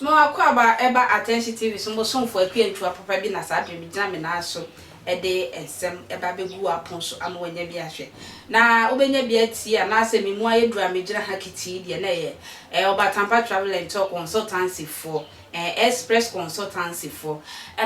Me w'akwaaba ɛba Attention TV so mbosomfo akua ntua papa bi na saa bere me gyina me nan so ɛde nsɛm ɛba bɛgu w'apon so ama w'anya bi ahwɛ na wobɛnya bi atie anaa sɛ me mu ayɛ duru a me gyina ha kitii deɛ na ɛyɛ ɛɛ Ɔbatampa Travel and Tour Consultancy foɔ Ɛɛ Express Consultancy foɔ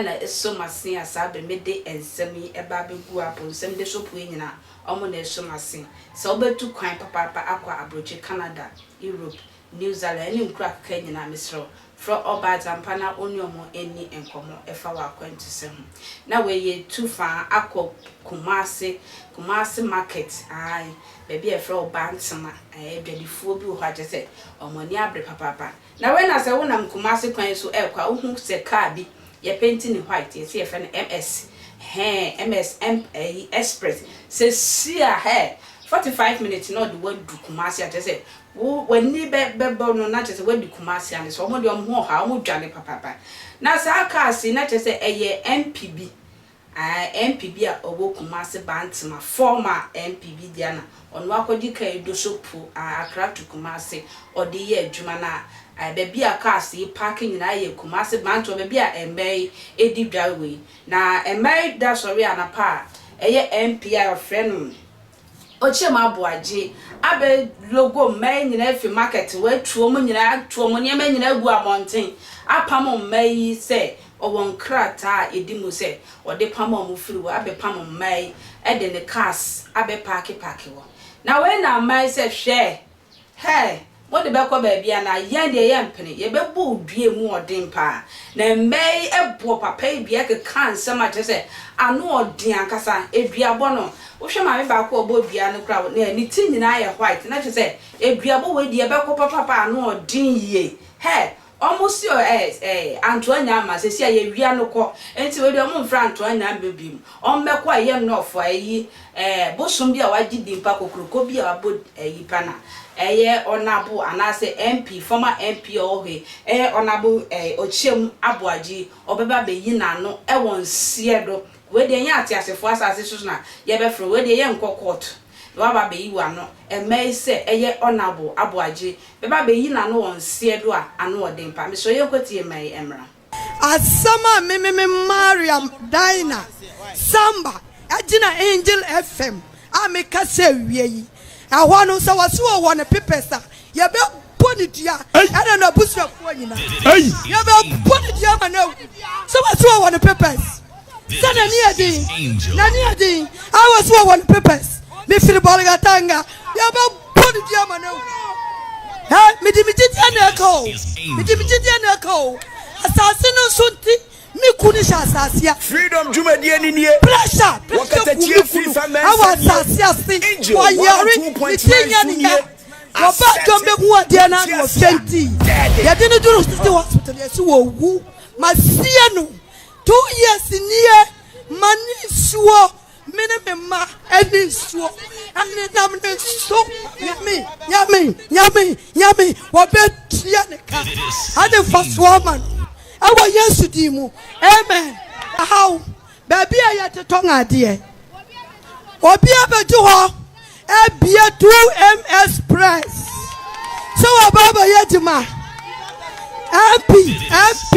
na ɛso m'ase a saa bere me de nsɛm yi ba abɛgu apo nsɛmde so pue nyina wɔn na ɛso m'ase. Sɛ wo bɛtu kwan papaapa akɔ abrokyi Canada, Europe, New Zealand ɛne nkuro akeka yi nyina mesrɛ wo frɛ ɔbaa Agyampa na wo ne wɔn ɛnni nkɔmɔ ɛfa wo akwantusɛ ho. Na wei yɛ tu faa akɔ Kumasi, Kumasi market ae baabi a yɛfrɛ hɔ Bantama ɛɛ adwadifoɔ bi wɔ hɔ a kyerɛ sɛ wɔn ani abre papaapa. Na wei na sɛ wonam Kumasi kwan so ɛrekɔ a wohu sɛ car bi yɛpenti no white yɛse yɛfrɛ no MS hɛɛ MS ɛmp ɛyi express sɛsi a hɛɛ forty five minutes na ɔde wo adu Kumasi a kyerɛ sɛ wo w'ani bɛ bɛbɔ no na kyerɛ sɛ woadu Kumasi a ne sɛ wɔn deɛ wɔn ho ɔha wɔn dwane papaapa na saa cars yi na kyerɛ sɛ ɛyɛ MP bi Ae MP bi a ɔwɔ Kumase Bantema, former MP bi dea na ɔno akɔgye car yi do so po ae Accra to Kumase ɔde yɛ adwuma na ae baabi a cars yi parke nyinaa yɛ Kumase Bantema baabi a mmaa yi edi dwa wei na mmaa yi da sɔre anapa a ɛyɛ MP a wɔfrɛ no Ɔkyɛm aboa gye abɛ logo mma yi nyinaa afi market watu wɔn nyinaa atu wɔn nneɛma nyinaa agu abɔnten apam mma yi sɛ ɔwɔ nkrataa a ɛdi mu sɛ ɔde pam wɔn firi hɔ abɛ pam mma yi de ne cars abɛ paake paake hɔ na wei na mma yi sɛ hwɛ Hɛɛ, mo de bɛkɔ baabi anaa? Yɛn deɛ yɛmpene, yɛbɛbɔ wo dua mu ɔden paa. Na mmaa yi bɔɔ papa yi dua kekaa nsɛm a kyerɛ sɛ ano ɔden ankasa. Eduabɔ no, wohwɛ maame baako a ɔbɔɔ dua no koraa a, na ne ti nyinaa yɛ white, na kyerɛ sɛ eduabɔ wei deɛ ɛbɛkɔ papapa a ano ɔden yie. Hɛɛ! Ɔmo se o ɛs ɛɛ Antoa Nyan ma sesi a yɛwia no kɔ nti wei deɛ ɔmo nfrɛ Antoa Nyan mɛ biom ɔmmɛkɔ a yɛnnɔ ɔfɔ ɛyi ɛɛ bosom bi a wagye din pa kokroko bi a wabɔ ɛyi pa na ɛyɛ ɔnabo anaasɛ MP former MP a ɔwɔ he ɛyɛ ɔnabo ɛɛ Okyem Aboagye ɔbɛba abɛyi n'ano ɛwɔ nseɛ do Wei deɛ ɛnyɛ ateasefoɔ asase so na yɛbɛfrɛ wo, wei deɛ yɛnkɔ court na woaba abɛyi w'ano, ɛmma yi sɛ ɛyɛ Honourable Aboagye bɛba abɛyi n'ano wɔ nseɛ do a, ano ɔden pa, mesrɛ yɛnkɔtie mma yi mmra. Asɛm a me me me Mariam Daina Samba gyina Angel FM a mekasa awie yi. Ɛhɔ no, sɛ wɔse wɔ wɔ no pepɛs a, yɛbɛbɔ no dua, ɛna n'abusuafoɔ nyinaa. Yɛbɛbɔ no dua ma no awu. Sɛ wɔse wɔ wɔ no pepɛs, sɛ n'ani yɛ den, n'ani yɛ den, a wɔse wɔ wɔ no pepɛs, mefiri Bolgatanga, yɛbɛbɔ no dua ma no awu. Ɛ, mede me gyidie na ɛka o, mede me gyidie na ɛka o. Asase no nso nti, Me ku no hyɛ asase a. Freedom dwumadie no nie. Pressure, pressure ku me kunu. Wɔ katakyie FIFA mɛnsa nie. Wɔ asase ase. Angel 102.9 so nie. Asɛte wo tiaseɛ a. Deɛ na ano ɔfɛ nti. Dɛɛde. Yɛde no duru City Hospital yɛ so wɔ wu. Ma sie no. Two years nie. Ma ne nsuo. Me ne me mma ne nsuo nenam ne so. Nyame, nyame, nyame, nyame, wɔbɛtua ne ka. Ade mfasoɔ ama no. Ɛwɔ Yesu din mu. Amen. Ahaw, baabi a yɛde tɔn adeɛ. Obi abɛgye hɔ Ebia 2MS Press sɛ wɔba abɛyɛ adwuma. MP, MP,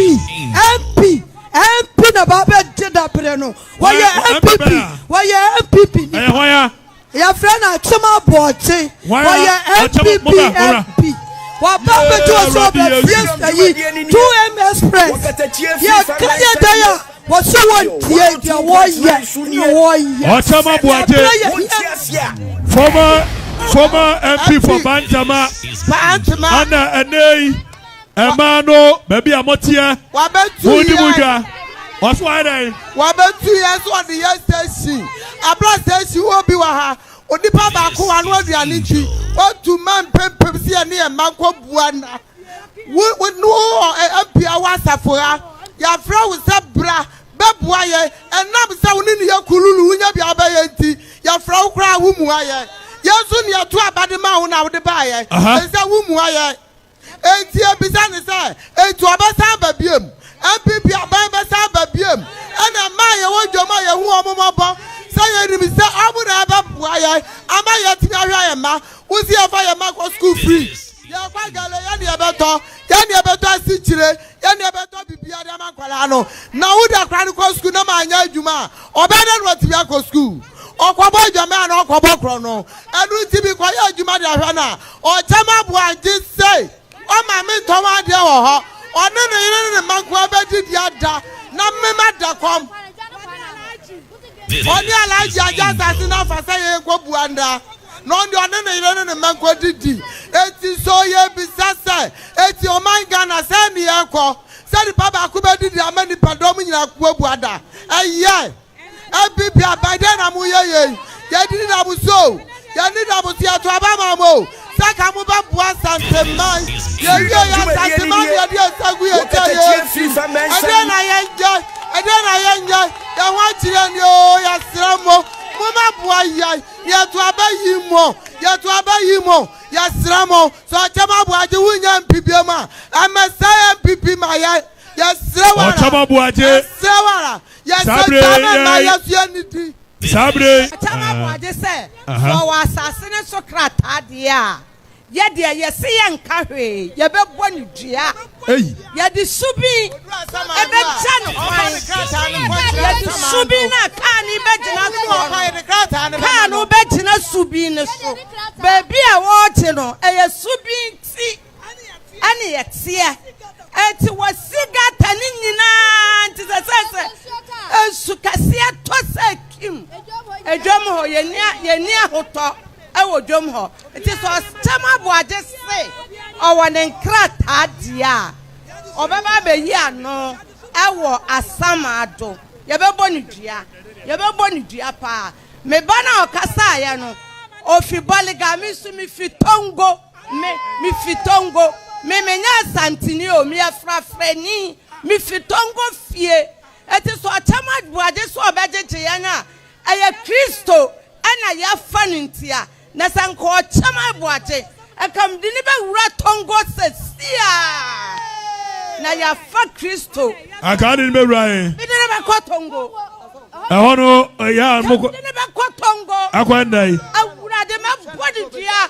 MP, MP na ba abɛgye dabrɛ no. Wɔyɛ MPP, wɔyɛ MPP nipa. Ɛyɛ hɔ ya. Yɛfrɛ no akyem aboɔkye. Wɔyɛ MPP MP. Wɔba abɛgye wɔ sɛ ɔbɛbie sɛ yi 2MS Press. Yɛka yɛ dɛn a. wɔsɛ wɔntie deɛ wɔyɛ na wɔyɛ ɔsɛm aboagye fɔma fɔma mp for bantama ana ɛnɛyi ɛmaa no baabi a moteɛ modi mu dwa ɔso ayɛ dɛn wɔbɛtu yɛ so ɔde yɛ station abra station wɔ bi wɔ ha onipa baako wa no aduane nkyi wɔtu ma mpempem sɛ yɛne yɛ mma nkɔbua na Wo, wo, no, wɔ ɛ, ebia w'asafo ha. Yɛafrɛ wo sɛ bra bɛboa yɛn. Ɛnam sɛ wo ne ne yɛ kululu, wonya bia wobɛyɛ nti, yɛfrɛ wo koraa a wommua yɛn. Yɛn nso ne yɛto aba de maa wo na wode baeɛ, Aha. ɛsɛ wommua yɛn. Enti yɛbisa ne sɛ, enti ɔbɛsan aba biom? MPP aban bɛsan aba biom? Ɛna ɛmaa yɛwɔ dwam a yɛhu wɔn mmɔbɔ, sɛ yɛnim sɛ wɔn na ɛbɛboa yɛn ama yɛatumi ahwɛ yɛn mma. Wo se yɛmfa yɛn mma nkɔ sukuu free. Yɛkɔ Galilee yɛne yɛbɛtɔ yɛne yɛbɛtɔ asikyire yɛne yɛbɛtɔ biribiara de ama nkwadaa no na woda kora no kɔ sukuu na ma anyɛ adwuma a ɔbɛyɛ dɛ na watumi akɔ sukuu ɔkɔbɔ adwaman a na ɔkɔbɔ korɔ no ɛno nti bi kɔyɛ adwuma de ahwɛ no a ɔkyɛ ma boa gye sɛ ɔma me ntɔn adeɛ wɔ hɔ ɔne ne yere ne ne mma nkoa bɛdidi ada na mema da kɔm Ɔne Alhaji agye asase no afa sɛ yɛn nkɔ bua nna na ɔne ɔne ne yere ne ne mma nkɔ didi. Eti so yɛbisa sɛ eti ɔman Ghana sɛn ne yɛkɔ sɛ nipa baako bɛdidi ama nipa dɔm nyinaa akɔ bua da? Ɛyɛ ɛbi bia by dɛn na mo yɛ yei? Yɛdidi dam so o, yɛnni dam so yɛto aba ma mo o, sɛ ka mo bɛ boa Asante man yɛ wie yɛ Asante man deɛ deɛ nsa gu yɛ gya yɛ nsu ɛdeɛ na yɛ nyɛ ɛdeɛ na yɛ nyɛ yɛ ho akyerɛ ni oo yɛ srɛ mo mo ma boa yɛ yɛ to abɛ yi mo yɛ to abɛ yi mo yɛ srɛ mo sɛ ɔkyɛ ma boa gye wo nyɛ mpibie ma ɛmɛ sɛ yɛ mpipi ma yɛ yɛ srɛ wara yɛ srɛ wara yɛ sɛ gya mɛ ma yɛ sue ni di. saa bere yi. Ɔtam ahoɔden sɛ wɔwɔ asase no so krataa deɛ a, yɛ deɛ yɛse yɛnka hwee, yɛbɛbɔ no dua, yɛde subin bɛgya no kwan, yɛde subin no a kaa no bɛgyina soɔ no, kaa no bɛgyina subin no so, baabi a wɔregye no, ɛyɛ subin ti. ɛne ɛteɛ ɛnti wɔ sigata ne nyinaa nti sɛ sɛ sɛ nsu kɛseɛ tɔ sɛ kim adwam hɔ yɛni ahotɔ ɛwɔ dwam hɔ nti sɛ ɔkyɛm aboagye se ɔwɔ ne nkrataa deɛ a ɔbɛba abɛyi ano ɛwɔ asamaado yɛbɛbɔ ne dua yɛbɛbɔ ne dua paa meba no a ɔkasaeɛ no ofi bɔlega me nso mefi tongo Me, mifi Tongo. Me, menyɛ Asanteni o, meyɛ frafrani. Mifi Tongo fie. Enti sɛ ɔkyɛm abuade sɛ ɔbɛgyegye yɛn a, ɛyɛ Kristo na yɛafa no nti a. Na sɛ anka ɔkyɛm abuade, anka mede no bɛwura Tongo seesei ara. Na yɛafa Kristo. Anka wode no bɛwura he? Mede no bɛkɔ Tongo. Ɛhɔ no, ɛyɛ a mokɔ. Mede no bɛkɔ Tongo. Akɔ ɛnna yi. Awurade, mɛbɔ ne dua.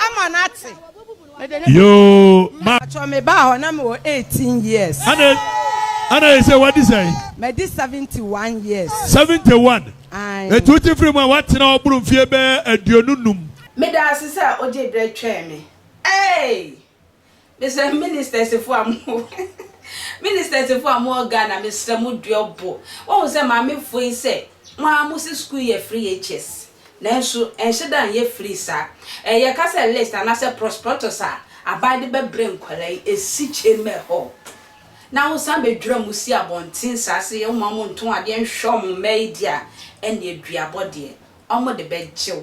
ama no ate. Mede ne Yoo ma. Atwɔ me baa hɔ na me wɔ eighteen years. Ana ana yɛ sɛ wadi sɛn? Madi seventy one years. Seventy one. Ae. Eti wote firi mu a woatena hɔ boro mfie bɛyɛ aduonu num. Meda ase sɛ ogye berɛ twɛn me. Eeii! Mesrɛ ministers foɔ a mo ministers foɔ a mo wɔ Ghana mesrɛ mo duɔ bo. Wahu sɛ maame foɔ yi sɛ mo ara mo se school yɛ free HS nanso ɛnhyɛ da nyɛ free saa. Ɛɛ yɛ ka sɛ list anaa sɛ prosprotus a aban de bɛ brɛ nkwadaa yi ɛsi chamber hɔ na wo san bɛ dwira mo si abɔnten saa se yɛ mo ma mo nto adeɛ nhwɛ ɔmo mma yi deɛ a ɛnneɛ duabɔ deɛ wɔde bɛgye wo.